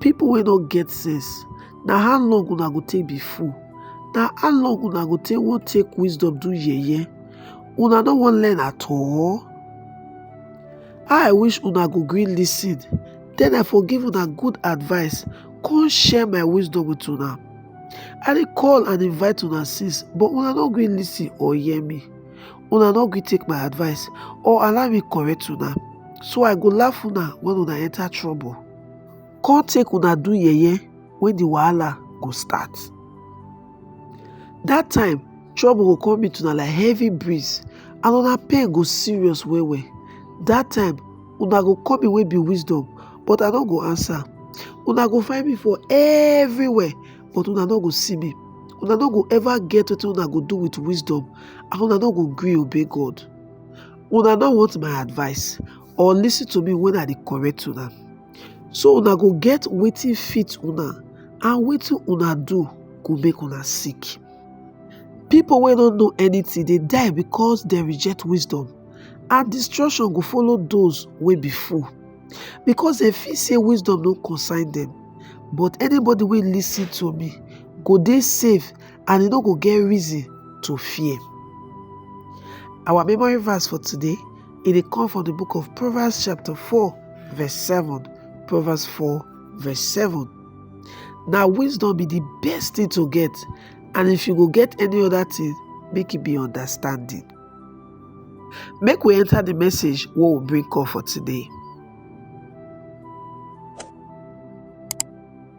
People wey no get sense, na how long una go take be fool? Na how long una go take wan take wisdom do yeye? Una no wan learn at all? How I wish una go gree listen, then I for give una good advice, come share my wisdom with una. I dey call and invite una since, but una no gree listen or hear me. Una no gree take my advice or allow me correct una, so I go laugh una when una enter trouble. come take una do yeye when the wahala go start. That time, trouble go come meet una like heavy breeze and una pain go serious well well. That time, una go call me wey be wisdom but I no go answer. Una go find me for everywhere but una no go see me. Una no go ever get wetin una go do with wisdom and una no go gree obey God. Una no want my advice or listen to me when I dey correct una. So una go get wetin fit una and wetin una do go make una sick. People wey no know anything dey die because dem reject wisdom and destruction go follow those wey be fool because dem feel say wisdom no concern dem. But anybody wey listen to me go dey safe and e no go get reason to fear. Our memory verse for today e dey come from the book of Proverbs chapter 4 verse 7. Proverbs 4 verse 7. Now wisdom be the best thing to get and if you go get any other thing, make it be understanding. Make we enter the message what will bring comfort today.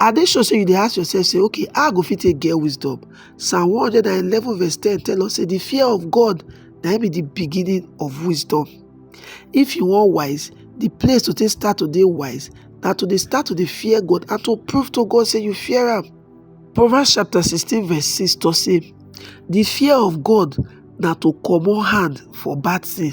I dey sure say you dey ask yourself say okay how I go fit take get wisdom. Psalm 111 verse 10 tell us say the fear of God na be the beginning of wisdom. If you want wise, the place to take start to dey wise na to dey start to dey fear God and to prove to God say you fear am. Proverbs chapter 16 verse 6 talk say the fear of God na to comot hand for bad thing.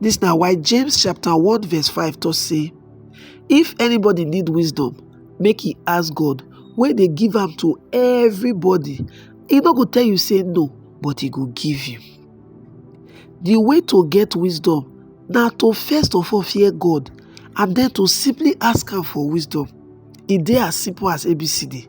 This now why James chapter 1 verse 5 to say, If anybody need wisdom, make he ask God, where they give them to everybody. He not go tell you say no, but he go give you. The way to get wisdom now to first of all fear God and then to simply ask him for wisdom. It e dey as simple as ABCD.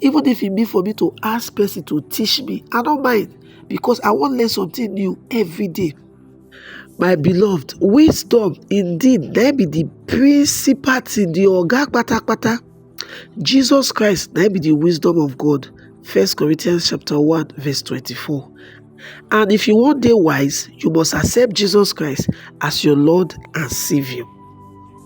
Even if it be for me to ask person to teach me, I don't mind because I want to learn something new every day. My beloved, wisdom indeed na be the principal thing, the oga patapata. Jesus Christ na be the wisdom of God. First Corinthians chapter 1 verse 24. And if you want day wise, you must accept Jesus Christ as your Lord and Savior.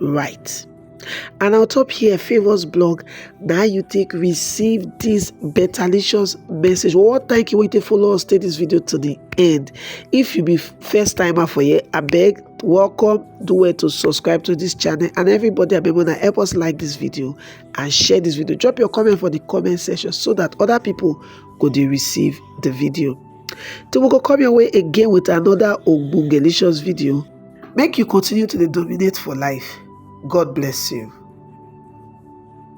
right and on top here favors blog now you take receive this betterlicious message well thank you waiting for us take this video to the end if you be first timer for here i beg welcome do well to subscribe to this channel and everybody i wanna help us like this video and share this video drop your comment for the comment section so that other people could receive the video till we go come your way again with another ogbongelicious video make you continue to dey dominate for life god bless you